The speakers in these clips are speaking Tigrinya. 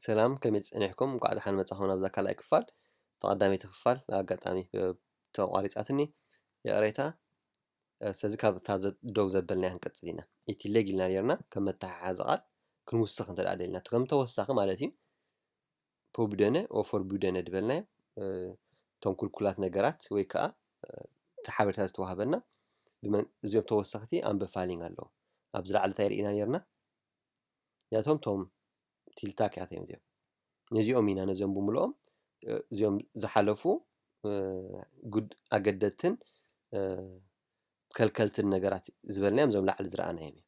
ሰላም ከመይ ጸኒሕኩም እንቋዕ ደሓን መጻኹም ናብዛ ካልኣይ ክፋል እታ ቀዳመይቲ ክፋል ኣጋጣሚ ተቋሪጻትኒ ይቕሬታ ስለዚ ካብ እታ ደው ዘበልናያ ክንቅጽል ኢና እቲ ሌግ ኢልና ነርና ከም መተሓሓዚ ቃል ክንውስኽ እንተ ደሊና ከም ተወሳኺ ማለት እዩ ፖብደነ ኦፎርቡደነ ድበልናዮ እቶም ኩልኩላት ነገራት ወይ ከዓ እቲ ሓበሬታ ዝተዋህበና እዚኦም ተወሰኽቲ ኣምበፋሊንግ ኣለዉ ኣብዚ ላዕሊ እንታይ ርኢና ነርና ነቶም ቶም ቲልታክ ያተ እዮም እዚኦም ነዚኦም ኢና ነዘም ብምልኦም እዚኦም ዝሓለፉ ኣገደትን ከልከልትን ነገራት ዝበልናዮም እዞም ላዕሊ ዝረኣናዮም እዮም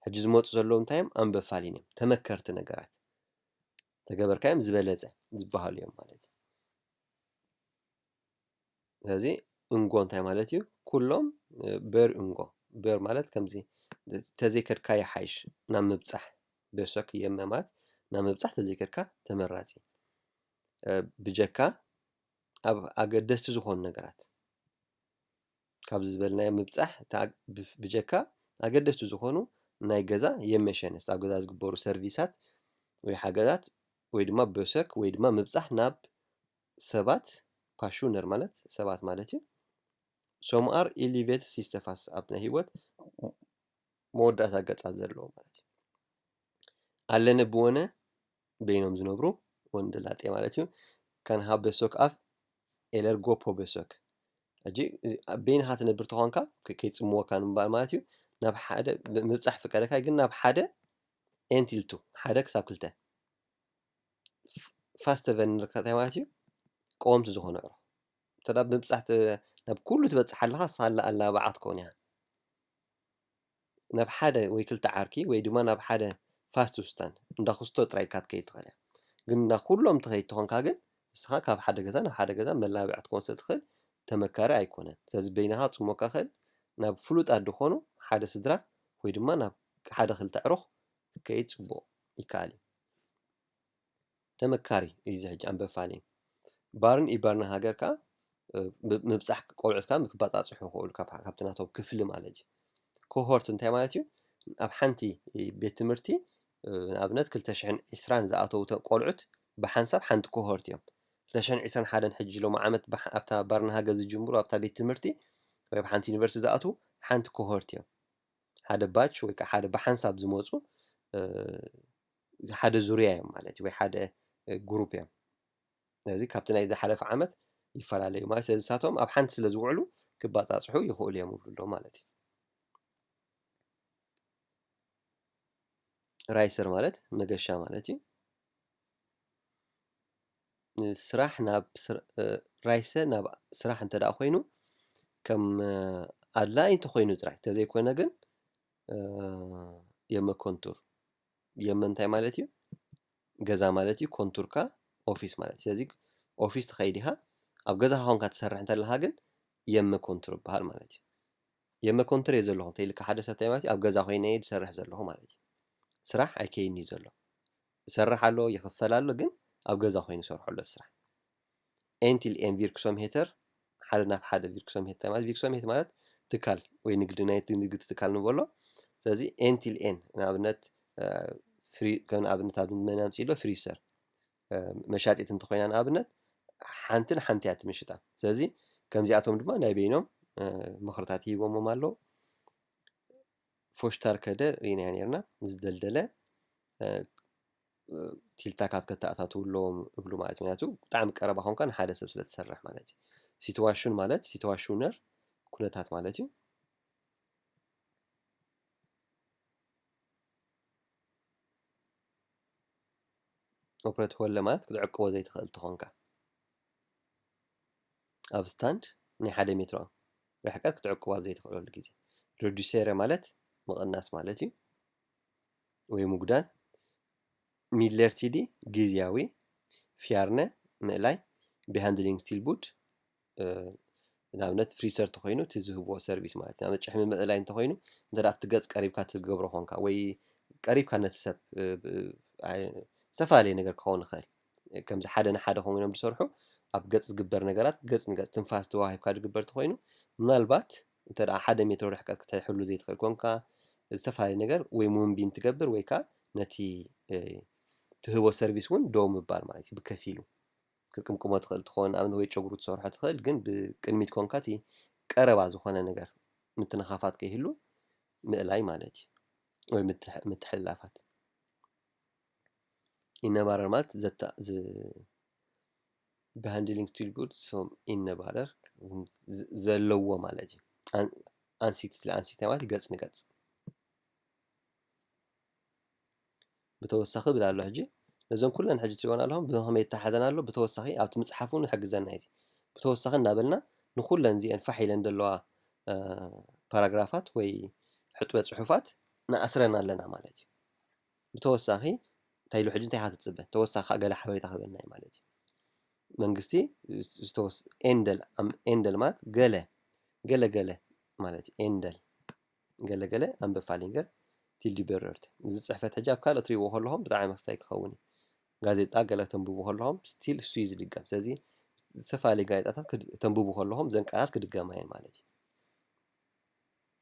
ሕጂ ዝመፁ ዘለዉ እንታይ እዮም ኣንበፋሊን እዮም ተመከርቲ ነገራት ተገበርካዮም ዝበለፀ ዝበሃሉ እዮም ማለት እዩ ስለዚ እንጎ እንታይ ማለት እዩ ኩሎም በር እንጎ በር ማለት ከምዚ ተዘይከድካ ይሓይሽ ናብ ምብጻሕ ቤሶክ የመማት ናብ ምብጻሕ ተዘይከድካ ተመራጺ ብጀካ ኣብ ኣገደስቲ ዝኾኑ ነገራት ካብዚ ዝበልናዮ ምብጻሕ ብጀካ ኣገደስቲ ዝኾኑ ናይ ገዛ የመሸንስ ኣብ ገዛ ዝግበሩ ሰርቪሳት ወይ ሓገዛት ወይ ድማ ቤሶክ ወይ ድማ ምብጻሕ ናብ ሰባት፣ ፓሹነር ማለት ሰባት ማለት እዩ፣ ሶም ኣር ኢ ሊቨት ሲስተ ፋስ ኣብ ናይ ህይወት መወዳእታ ገጻት ዘለዎ ማለት እዩ። ኣለነ ብወነ በይኖም ዝነብሩ ወንድ ላጤ ማለት እዩ። ካን ሃብ በሶክ ኣፍ ኤለር ጎፖ በሶክ ሕጂ እዚ ኣብ በይንኻ ትነብር ተኾንካ ከ- ከይጽምወካ ንምባል ማለት እዩ ናብ ሓደ ብ- ምብጻሕ ፍቀደካ ግን ናብ ሓደ ኤንቲልቱ ሓደ ክሳብ ክልተ ፋስተቨል እንታይ ማለት እዩ ቀወምቲ ዝኾኑ ኣዕሩኽ እንተ ብምብጻሕ ናብ ኩሉ ትበጽሕ ኣለኻ ሳላ ኣላባዓ ክትከውን እያ ናብ ሓደ ወይ ክልተ ዓርኪ ወይ ድማ ናብ ሓደ ፋስት ዉስታን እንዳ ኹስቶ ጥራይ ኢልካ ክትከይድ ትኽእል ኢኻ ግን ናብ ኩሎም ትኸይድ ተኾንካ ግን ንስኻ ካብ ሓደ ገዛ ናብ ሓደ ገዛ መላባዕ ክትኮን ስለ ትኽእል ተመካሪ ኣይኮነን ስለዚ በይንኻ ጽሙቅ ካኸል ናብ ፍሉጣት ድኾኑ ሓደ ስድራ ወይ ድማ ናብ ሓደ ክልተ ኣዕሩኽ ክትከይድ ጽቡቅ። ይከኣል እዩ። ተመካሪ እዩ እዚ ሕጂ ኣንበብ ፋልየ ባርን ኢባርን ሃገር ከኣ ምብጻሕ ቆልዑት ከኣ ክበጻጽሑ ይኽእሉ ካብቲ ናቶም ክፍሊ ማለት እዩ ኮሆርት እንታይ ማለት እዩ ኣብ ሓንቲ ቤት ትምህርቲ ንኣብነት ክልተ ሽሕን ዕስራን ዝኣተዉ ቆልዑት ብሓንሳብ ሓንቲ ኮሆርት እዮም ክልተ ሽሕን ዕስራን ሓደን ሕጂ ሎሚ ዓመት ኣብታ ባርና ሃገር ዝጅምሩ ኣብታ ቤት ትምህርቲ ወይ ኣብ ሓንቲ ዩኒቨርሲቲ ዝኣትዉ ሓንቲ ኮሆርት እዮም ሓደ ባች ወይ ከዓ ሓደ ብሓንሳብ ዝመፁ ሓደ ዙርያ እዮም ማለት እዩ ወይ ሓደ ግሩፕ እዮም ስለዚ ካብቲ ናይ ዝሓለፈ ዓመት ይፈላለዩ ማለት ስለዚ ንሳቶም ኣብ ሓንቲ ስለ ዝውዕሉ ክባፃፅሑ ይኽእሉ እዮም ይብሉ ኣለዉ ማለት እዩ ራይሰር ማለት መገሻ ማለት እዩ ንስራሕ ናብ ራይሰ ናብ ስራሕ እንተ ደኣ ኮይኑ ከም ኣድላዪ እንተ ኾይኑ ጥራይ እንተዘይኮነ ግን የመ ኮንቱር የመ እንታይ ማለት እዩ ገዛ ማለት እዩ ኮንቱር ከኣ ኦፊስ ማለት እዩ ስለዚ ኦፊስ ትኸይድ ኢኻ ኣብ ገዛኻ ኮንካ ትሰርሕ እንተለኻ ግን የመ ኮንቱር ይበሃል ማለት እዩ የመ ኮንቱር እየ ዘለኹ እንተኢልካ ሓደ ሰብ እንታይ ማለት እዩ ኣብ ገዛ ኮይነ እየ ዝሰርሕ ዘለኹ ማለት እዩ ስራሕ ኣይከይድን እዩ ዘሎ ይሰርሕ ኣሎ ይኽፈል ኣሎ ግን ኣብ ገዛ ኮይኑ ይሰርሖ ኣሎ እቲ ስራሕ en till en virksomheter ሓደ ናብ ሓደ ቪርክሶምሄት ማለት ቪርክሶምሄት ማለት ትካል ወይ ንግዲ ናይ ንግዲ ትካል ንበሎ ስለዚ en till en ንኣብነት ፍሪ ከም ንኣብነት ኣብ መን ኣምፅኢሎ ፍሪሰር መሻጢት እንተኮይና ንኣብነት ሓንቲ ንሓንቲ እያ ትምሽጣ ስለዚ ከምዚኣቶም ድማ ናይ በይኖም ምኽርታት ሂቦሞም ኣለዉ ፎሽታር ከደ ርኢናዮ ነርና ዝደልደለ ቲልታካት ከተኣታትው ኣለዎም እብሉ ማለት ምክንያቱ ብጣዕሚ ቀረባ ኮንካ ንሓደ ሰብ ስለ ትሰርሕ ማለት እዩ ሲትዋሽን ማለት ሲትዋሽነር ኩነታት ማለት እዩ ኦፕረት ሆለ ማለት ክትዕቅቦ ዘይትኽእል ተኾንካ ኣብ ስታንድ ናይ ሓደ ሜትሮ ርሕቀት ክትዕቅቡ ኣብ ዘይትኽእለሉ ግዜ። ሪዱሴረ ማለት ምቕናስ ማለት እዩ ወይ ምጉዳል። ሚድለርቲዲ ግዝያዊ፣ ፍያርነ ምእላይ፣ ቢሃንድሊንግስቲልቡድ ንኣብነት ፍሪሰር ተኮይኑ እቲ ዝህብዎ ሰርቪስ ማለት ንኣብነት ጭሕሚ ምእላይ እንተኮይኑ እንተ ኣብቲ ገፅ ቀሪብካ ትገብሮ ኮንካ ወይ ቀሪብካ ነቲ ሰብ ዝተፈላለየ ነገር ክኸውን ይኽእል። ከምዚ ሓደ ንሓደ ኮይኖም ዝሰርሑ ኣብ ገፅ ዝግበር ነገራት ገፅ ንገፅ ትንፋስ ተወሃሂብካ ዝግበር እንተኾይኑ ምናልባት እንተ ሓደ ሜትሮ ርሕቀት ክትሕሉ ዘይትኽእል ኮንካ ዝተፈላለዩ ነገር ወይ ሙንቢን ትገብር ወይ ከዓ ነቲ ትህቦ ሰርቪስ እውን ደው ምባል ማለት እዩ ብከፊሉ ክትቅምቅሞ ትኽእል ትኾን ኣብነት ወይ ጨጉሩ ትሰርሖ ትኽእል ግን ብቅድሚት ኮንካ እቲ ቀረባ ዝኾነ ነገር ምትንኻፋት ከይህሉ ምእላይ ማለት እዩ ወይ ምትሕልላፋት ኢነባረር ማለት ዘታ ብሃንድሊንግ ስቲል ጉድ ሶም ኢነባረር ዘለዎ ማለት እዩ። ኣን- ኣንሲት ስለ ኣንሲት ማለት ገጽ ንገጽ ብተወሳኺ ብል ኣሎ ሕጂ ነዞም ኩለን ሕጂ ትሪእወን ኣለኹም ብኸመይ ይተሓዘን ኣሎ ብተወሳኺ ኣብቲ ምጽሓፍ እውን ይሕግዘና እዩ። ብተወሳኺ እናበልና ንኹለን እዚአን ፋሕ ኢለን ዘለዋ አ፣ ፓራግራፋት ወይ ሕጥበ ጽሑፋት ንኣስረን ኣለና ማለት እዩ። ብተወሳኺ እንታይ ኢሉ ሕጂ እንታይ ኢኻ ትጽበ ተወሳኺ ካኣ ገለ ሓበሬታ ክህበና እዩ ማለት እዩ። መንግስቲ ዝተወስ ኤንደል ኤንደል ማለት ገለ ገለ ገለ ማለት እዩ ኤንደል ገለ ገለ ኣንበብ ፋሊንገር ቲልዲ በረርት እዚ ጽሕፈት ሕጂ ኣብ ካልኦት ትሪእዎ ከለኹም ብጣዕሚ መክስታይ ክኸውን እዩ። ጋዜጣ ገለ ተንብቡ ከለኹም ስቲል እሱ እዩ ዝድገም ስለዚ ዝተፈላለዩ ጋዜጣታት ክድ- ተንብቡ ከለኹም ዘን ቃላት ክድገማ እየን ማለት እዩ።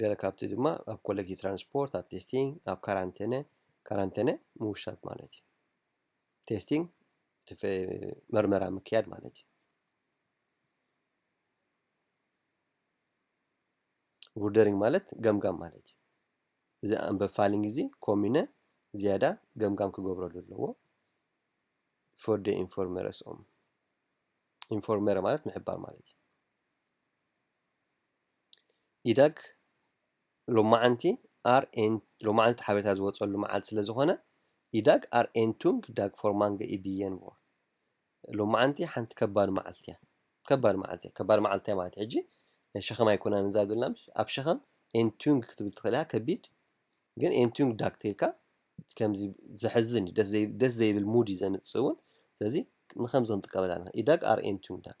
ገለ ካብቲ ድማ ኣብ ኮለጊ ትራንስፖርት ኣብ ቴስቲንግ ኣብ ካራንተነ ካራንተነ ምውሻብ ማለት እዩ ቴስቲንግ መርመራ ምክያድ ማለት እዩ ቡርደሪንግ ማለት ገምጋም ማለት እዩ እዚ ኣንበብ ፋሊንግ እዚ ኮሚነ ዝያዳ ገምጋም ክገብረሉ ኣለዎ ፎርደ ኢንፎርመረስኦም ኢንፎርመረ ማለት ምሕባር ማለት እዩ ኢዳግ ሎማዓንቲ ኣር ኤን ሎማዓንቲ ሓበሬታ ዝወፀሉ መዓልቲ ስለ ዝኾነ ኢዳግ ኣር ኤን ቱንግ ዳግ ፎር ማንገ ኢ ብዬን ቮር ሎማዓንቲ ሓንቲ ከባድ መዓልቲ እያ ከባድ መዓልቲ እያ ከባድ መዓልቲ እያ ማለት ሕጂ ናይ ሸኸም ኣይኮናን እዛ ዝብልና ምሽ ኣብ ሸኸም ኤን ቱንግ ክትብል ትኽእል እያ ከቢድ ግን ኤን ቱንግ ዳግ ተልካ ከምዚ ዘሕዝን እዩ ደስ ዘይ- ደስ ዘይብል ሙድ እዩ ዘምፅእ እውን ስለዚ ንከምዚ ክንጥቀመላ ኢና ኢዳግ ኣር ኤን ቱንግ ዳግ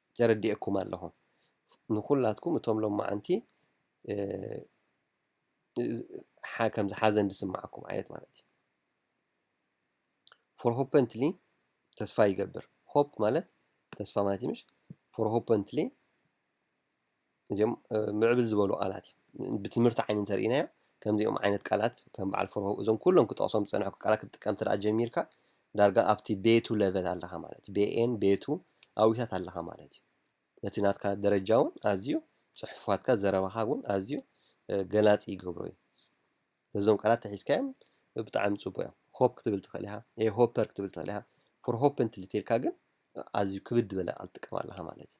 ተረዲኤኩም ኣለኹ ንኹላትኩም እቶም ሎማዓንቲ ከምዚ ሓዘን ዝስማዓኩም ዓይነት ማለት እዩ ፎርሆፐንትሊ ተስፋ ይገብር ሆፕ ማለት ተስፋ ማለት እዩ ምሽ ፎርሆፐንትሊ እዚኦም ምዕብል ዝበሉ ቃላት እዮም። ብትምህርቲ ዓይኒ እንተርኢናዮ ከምዚኦም ዓይነት ቃላት ከም በዓል ፍርሆ እዞም ኩሎም ክጠቕሶም ዝጸንሐኩ ቃላት ክትጥቀም እንተ ጀሚርካ ዳርጋ ኣብቲ ቤቱ ለቨል ኣለኻ ማለት እዩ። ቤኤን ቤቱ ኣዊታት ኣለኻ ማለት እዩ። ነቲ ናትካ ደረጃ እውን ኣዝዩ ጽሑፋትካ ዘረባኻ እውን ኣዝዩ ገላጺ ይገብሮ እዩ። እዞም ቃላት ተሒዝካዮም ብጣዕሚ ጽቡቅ እዮም። ሆፕ ክትብል ትኽእል ኢኻ፣ ኤ ሆፐር ክትብል ትኽእል ኢኻ። ፎር ሆፕ እንትልቴልካ ግን ኣዝዩ ክብድ ዝበለ ቃል ትጥቀም ኣለኻ ማለት እዩ።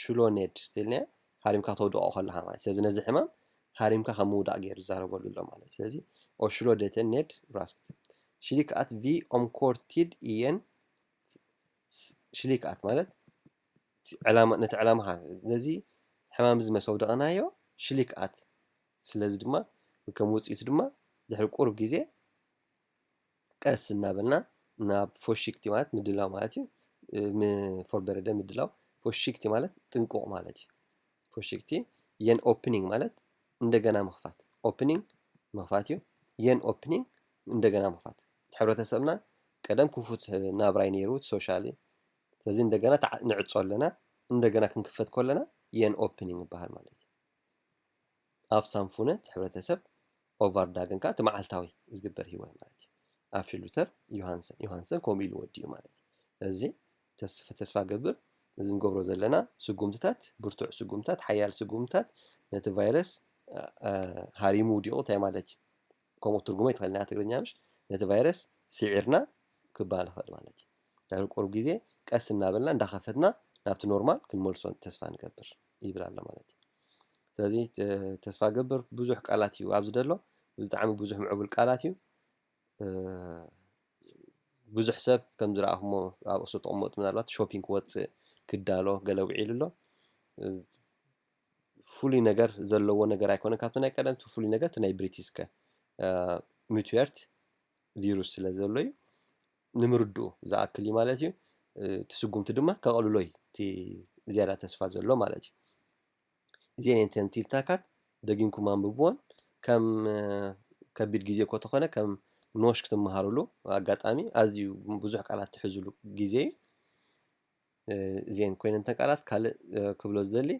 ሽሎኔድ ተይልና ሃሪምካ ተውድቖ ከለኻ ማለት ስለዚ ነዚ ሕማም ሃሪምካ ከም ምውዳቕ ገይሩ ዝዛረበሉ ኣሎ ማለት ስለዚ ኦሽሎዴተ ኔድ ብራስክት ሽሊክ ኣት ቪ ኦምኮርቲድ ኢየን ሽሊክ ኣት ማለት ዕላማ ነቲ ዕላማኻ ነዚ ሕማም እዚ መሰውደቕናዮ ሽሊክ ኣት ስለዚ ድማ ከም ውፅኢቱ ድማ ድሕሪ ቁሩብ ግዜ ቀስ እናበልና ናብ ፎሽክቲ ማለት ምድላው ማለት እዩ ንፎርበረደ ምድላው ፎሽክቲ ማለት ጥንቁቕ ማለት እዩ ፎሽክቲ የን ኦፕኒንግ ማለት እንደገና ምኽፋት ኦፕኒንግ ምኽፋት እዩ የን ኦፕኒንግ እንደገና ምኽፋት ሕብረተሰብና ቀደም ክፉት ናብራይ ነይሩ ሶሻሊ ስለዚ እንደገና ንዕፆ ኣለና እንደገና ክንክፈት ከለና የን ኦፕኒንግ ይበሃል ማለት እዩ ኣብ ሳንፉነ እቲ ሕብረተሰብ ኦቫርዳግን ከኣ እቲ መዓልታዊ ዝግበር ህይወት ማለት እዩ። ኣፊ ሉተር ዮሃንሰን ዮሃንሰን ከምኡ ኢሉ ወዲኡ ማለት እዩ። እዚ ተስፋ ገብር እዚ ንገብሮ ዘለና ስጉምትታት ብርቱዕ ስጉምትታት ሓያል ስጉምትታት ነቲ ቫይረስ ሃሪሙ ውዲቑ እንታይ ማለት እዩ ከምኡ ትርጉሞ ይትኸልና ትግርኛ ምሽ ነቲ ቫይረስ ሥዒርና ክባል ኸል ማለት ዳሩ ቁርብ ጊዜ ቀስ እናበልና እንዳኸፈትና ናብቲ ኖርማል ክንመልሶን ተስፋ ንገብር ይብል ኣሎ ማለት እዩ ስለዚ ተስፋ ገብር ብዙሕ ቃላት እዩ ኣብዚ ደሎ ብጣዕሚ ብዙሕ ምዕቡል ቃላት እዩ ብዙሕ ሰብ ከም ዝረኣኹሞ ኣብ እሱ ተቕመጡ ምናልባት ሾፒንግ ክወፅእ ክዳሎ ገለ ውዒሉ ኣሎ ፍሉይ ነገር ዘለዎ ነገር ኣይኮነ ካብቲ ናይ ቀደም እቲ ፍሉይ ነገር እቲ ናይ ብሪቲስከ ሚትዌርት ቪሩስ ስለ ዘሎ እዩ ንምርድኡ ዝኣክል እዩ ማለት እዩ እቲ ስጉምቲ ድማ ከቐልሎ እዩ እቲ ዝያዳ ተስፋ ዘሎ ማለት እዩ እዚአን እየን ተንቲልታካት ደጊምኩም ኣንብብዎን ከም ከቢድ ግዜ እኮ ተኾነ ከም ኖሽ ክትመሃርሉ ኣጋጣሚ ኣዝዩ ብዙሕ ቃላት ትሕዝሉ ግዜ እዩ እዚኤን ኮይነን እተን ቃላት ካልእ ክብሎ ዝደሊ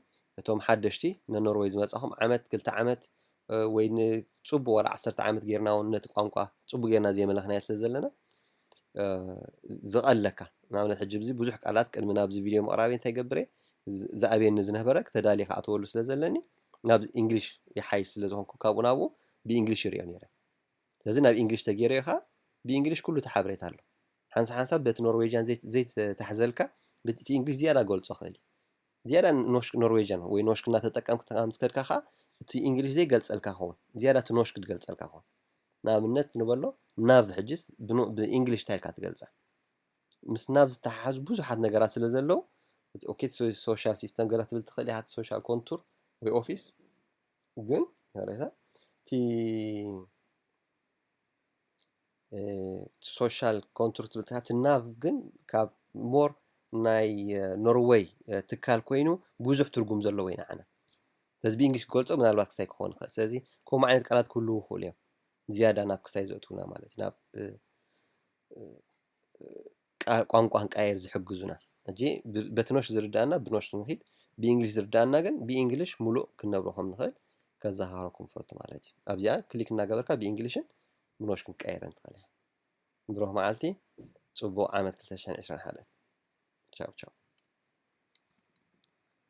እቶም ሓደሽቲ ንኖርወይ ዝመጻኹም ዓመት ክልተ ዓመት ወይ ንጽቡቅ ወላ ዓሰርተ ዓመት ጌርና እውን ነቲ ቋንቋ ጽቡቅ ጌርና ዘይመለኽናዮ ስለ ዘለና ዝቐለካ ንኣብነት ሕጂ ብዚ ብዙሕ ቃላት ቅድሚ ናብዚ ቪድዮ ምቕራበይ እንታይ ገብር እየ ዝኣብየኒ ዝነበረ ተዳልየ ክኣተወሉ ስለ ዘለኒ ናብ እንግሊሽ ይሓይሽ ስለ ዝኾንኩ ካብኡ ናብኡ ብእንግሊሽ ይሪኦ ነይረ ስለዚ ናብ እንግሊሽ ተገይረዮ ከዓ ብእንግሊሽ ኩሉ እቲ ሓበሬታ ኣሎ ሓንሳብ ሓንሳብ በቲ ኖርዌጅያን ዘይት ዘይት ታሕዘልካ ብቲ እቲ እንግሊዝ ዝያዳ ገልጾ ክእል ዝያዳ ኖሽ ኖርዌጅያን ወይ ኖሽ ክና ተጠቀም ክተካ ምስ ከድካ ከኣ እቲ እንግሊዝ ዘይ ገልጸልካ ኸውን ዝያዳ እቲ ኖሽ ክትገልጸልካ ኸውን ንኣብነት ንበሎ ናብ ሕጅስ ብኖ ብእንግሊሽ ታይልካ ትገልጸ ምስ ናብ ዝተሓሓዙ ብዙሓት ነገራት ስለ ዘለዉ እቲ ኦኬ እቲ ሶ- ሶሻል ሲስተም ገለ ክትብል ትኽእል ኢኻ እቲ ሶሻል ኮንቱር ወይ ኦፊስ ግን ሬታ እቲ ሶሻል ኮንትር ትብል እታ ትናቭ ግን ካብ ሞር ናይ ኖርወይ ትካል ኮይኑ ብዙሕ ትርጉም ዘለዎ ኢና ዓና ስለዚ ብእንግሊሽ ክገልፆ ምናልባት ክሳይ ክኾን ይኽእል ስለዚ ከምኡ ዓይነት ቃላት ክህልው ይኽእሉ እዮም ዝያዳ ናብ ክሳይ ዘእትውና ማለት እዩ ናብ ቋንቋ ክንቀያየር ዝሕግዙና። ሕጂ በትኖሽ ዝርድኣና ብኖሽ ክንኪድ ብእንግሊሽ ዝርድኣና ግን ብእንግሊሽ ሙሉእ ክንነብሮ ከም ንኽእል ከዘኻኽረኩም ፈቱ ማለት እዩ። ኣብዚኣ ክሊክ እናገበርካ ብእንግሊሽን ብኖሽ ክንቀያየረን ትኽእል እያ። ብሩኽ መዓልቲ ጽቡቕ ዓመት 2021 ቻው ቻው።